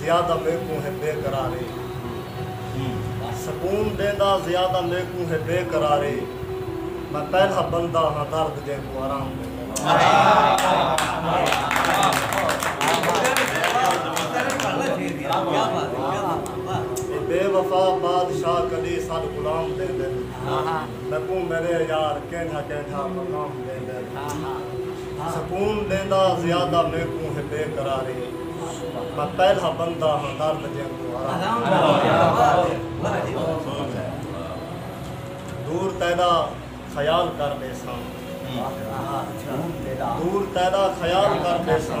زیادہ میکوں ہے بے قراری سکون ڈیندا زیادہ میکوں ہے بے قراری میں پہلا بندہ ہاں درد جینکوں آرام ڈیندا بے وفا بادشاہ کدی ساڈ غلام ڈیندن میکوں میڈے یار کینڈھا کینڈھا مقام ڈیندن۔ سکون ڈیندا زیادہ میکوں ہے بے قراری میں پہلا بندہ ہاں درد جیکوں آرام دور تیدا خیال کر بیساں دور تیدا خیال کر بیساں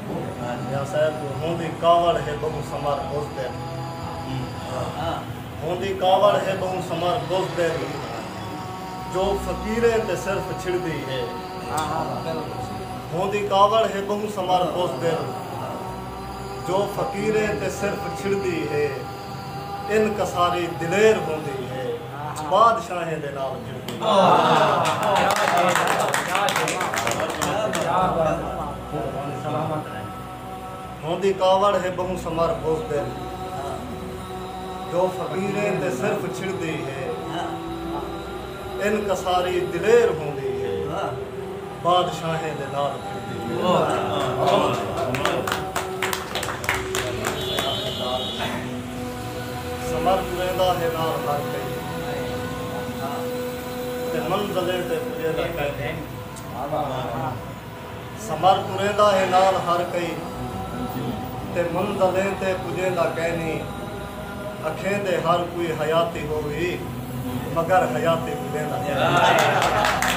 میاں صاحب ہوندی کاوڑ ہے بہوں سمر بز دل ہوندی کاوڑ ہے بہوں سمر بز دل جو فقیریں تے صرف چھڑدی ہے ہوندی کاوڑ ہے بہوں سمر بز دل جو فقیریں تے صرف چھڑدی ہے ان کساری دلیر ہوندی ہے بادشاہیں دے نال ملدی ہے سلامت رہ۔ ہوندی کاوڑ ہے بہوں سمر بزدل جو فقیریں تے صرف چھڑدی ہے ان کساری دلیر ہوندی ہے بادشاہیں دے نال پھردی سمر ٹریندا ہے نال ہر کئی تے منزلیں تے پجیدا کہیں سمر ٹریندا ہے نال ہر کئی تے منزلیں تے پجیندا کینی اکھیں دے ہر کوئی حیاتی ہووی مگر حیاتی بھلیندا کینی۔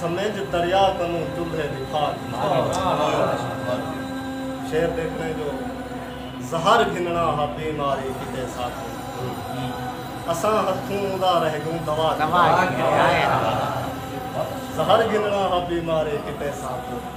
سمجھ دریا کنوں چولھے دی پھاٹ شعر دیکھنے جو زہر گھننا ہا بیماری کتے ساکوں اساں ہتھوں ادا رہ گوں دوا زہر گھننا ہا بیماری کتے ساکوں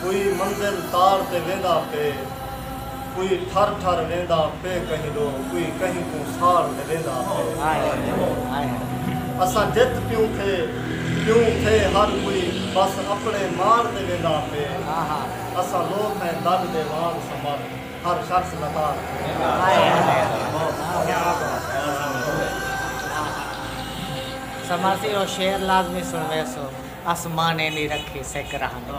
کوئی منزل تاڑ تے ویندا پے کوئی ٹھر ٹھر ویندا پے کہیں ڈو کوئی کہیں کوں ساڑ تے ویندا پے اساں جت پیوں تھے پیوں تھے ہر کوئی بس اپنے ماڑ تے ویندا پے اساں لوک ہیں دل دے وانگ سمر ہر شخص لتاڑ تے ویندا پے۔ سمر سی او شعر لازمی سنویسو۔ اسمانے دی رکھی سک رہندی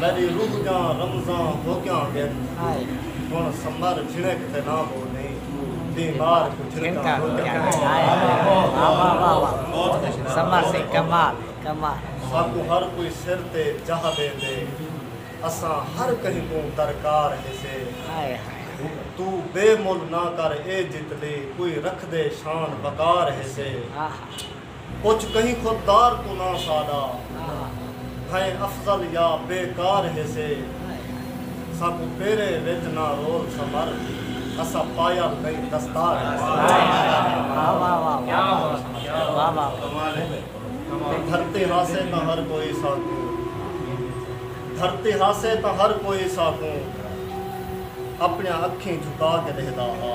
میݙی روح دیاں رمزاں ہوڳیاں ڳن ہݨ سمر جھݨک تے ناں ٻو ݙے بیمار کوں جھݨکاں ہوڳیاں ساکوں ہر کوئی سر تے جاہ ݙیندے اساں ہر کہیں کوں درکار ہیسے توں بے مل نہ کر اے جتلی کوئی رکھدے شان وقار ہیسے۔ اچ کہیں خود دار کوناں ساڈا بھئیں افضل یا بے کار ہیسے ساکوں پیرے وچ نہ رول سمر اساں پایل نئیں دستار ہیسے دھرتی ہاسے تاں ہر کوئی ساکوں دھرتی ہاسے تاں ہر کوئی ساکوں اپنیاں اکھیں جھکا کے ڈیہدا ہا۔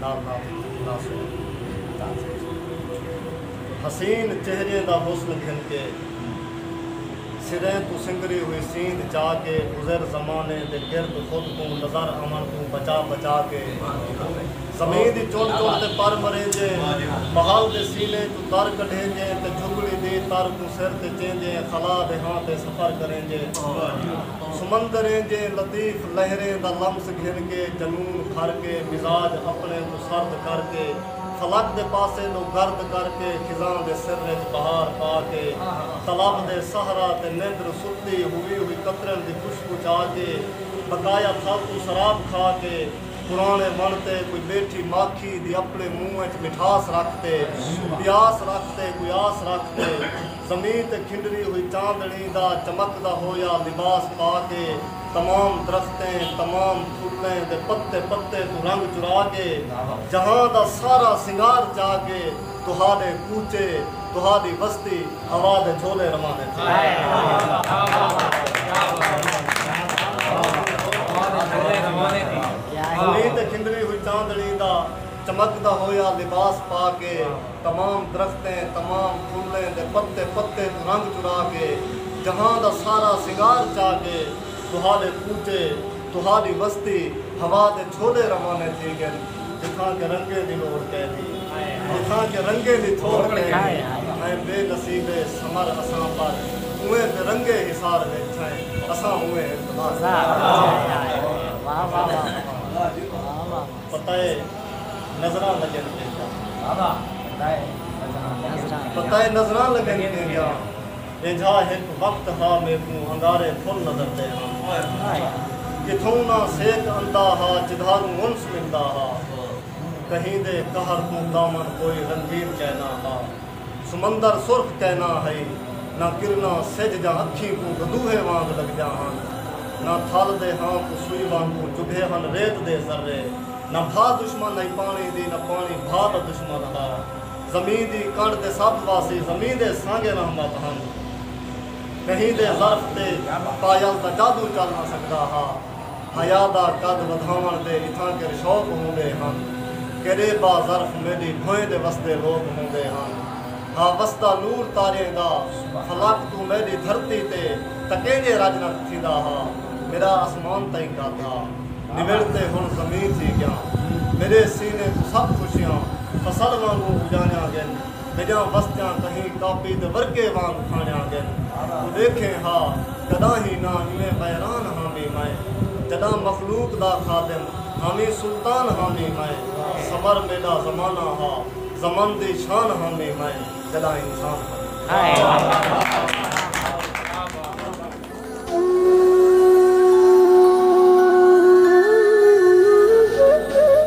نال نال ناسو تاجر حسین چہریے دا حسن گھن کے سریں توں سنگری ہوئی سیند چا کے گزر زمانے دے گرد خود کوں نظر آون توں بچا بچا کے زمین دی چن چن تے پر مریندے محل دے سینے توں تر کڈھیندے تے جھگڑی دی تر کوں سر تے چیندے خلا دے ہاں تے سفر کریندے سمندریں جے لطیف لہریں دا لمس گھن کے جنون بھر کے مزاج اپنے کوں سرد کر کے فلک دے پاسے ݙو گرد کر کے خزاں دے سر وچ بہار پا کے طلب دے صحرا تے نندر ستی ہووی ہوئی قطرن دی خوشبو چا کے بقایا تھل توں سراب کھا کے پراݨے وݨ تے کوئی ٻیٹھی ماکھی دی اپنے منہ وچ مٹھاس رکھ تے پیاس رکھ تے کوئی آس رکھ تے زمین تے کھنڈری ہوئی چاندنی دا چمکدا ہویا لباس پا کے تمام درختیں، تمام تھلیں دے پتے پتے توں رنگ چرا کے جہاں دا سارا سنگار چا کے تہاݙے کوچے، تہاݙی وستی ہوا دے جھولے رواندے تھی۔ زمین تے کھنڈری ہوئی چاندنی دا چمکدا ہویا لباس پا کے۔ تمام درختیں، تمام پھلیں دے پتے پتے توں رنگ چرا کے، جہاں دا سارا سنگار چا کے، تہاݙے ٻوٹے، تہاݙی وستی ہوا دے جھولے روانے تھی ڳن، جتھاں کہ رنگیں دی لوڑھ کئے دی، جتھاں کہ رنگیں دی تھوڑ کئے دی، ایں بے نصیبے سمر اساں پر اونویں تے رنگیں حصار وچ تھئیں، اساں اونویں ہن تباہ تھئیں۔ پتہ اے نظراں لڳن تیندیاں ݙینجھا ہک وقت ہا میکوں انگارے پھل نظر دے ہن کتھوں نہ سیک اندا ہا جدھاروں انس ملدا ہا کہیں دے قہر کوں کامن کوئی رنگین چینہ ہا سمندر سرخ تے نہ ہئی نہ کرناں سجھ جاں اکھیں کوں گدوہے وانگ لگدیاں ہن نہ تھل دے ہاں کوں سوئی وانگوں چبھے ہن ریت دے ذرے نہ بھا دشمن ہئی پانی دی نہ پانی بھا دا دشمن ہا زمیں دی کنڈ تے سب واسی زمیں دے سانگے رحمت ہن کہیں دے ظرف تے پایل دا جادو چل نہ سگدا ہا۔ حیا دا قد ودھاوݨ دے اتھاں کر شوق ہوندے ہن۔ کیݙے با ظرف میݙی بھوئیں دے وسدے لوک ہوندے ہن۔ ہا وسدا نور تاریاں دا فلک توں میݙی دھرتی تے تکیݙے رڄ نت تھیندا ہا۔ میݙا اسمان تئیں گھادا نوڑ تے ہݨ زمیں تھی ڳیاں۔ میݙے سینے توں سب خوشیاں فصل وانگوں اڄاݨیاں ڳن۔ میڈیاں وستیاں کہیں کاپی دے ورقے وانگ پھانیاں گن توں ڈیکھیں ہا کڈاہیں نہ ایویں ویران ہامی میں جڈاں مخلوق دا خادم ہامی سلطان ہامی میں سمر میڈا زمانہ ہا زمن دی شان ہامی میں جڈاں انسان ہامی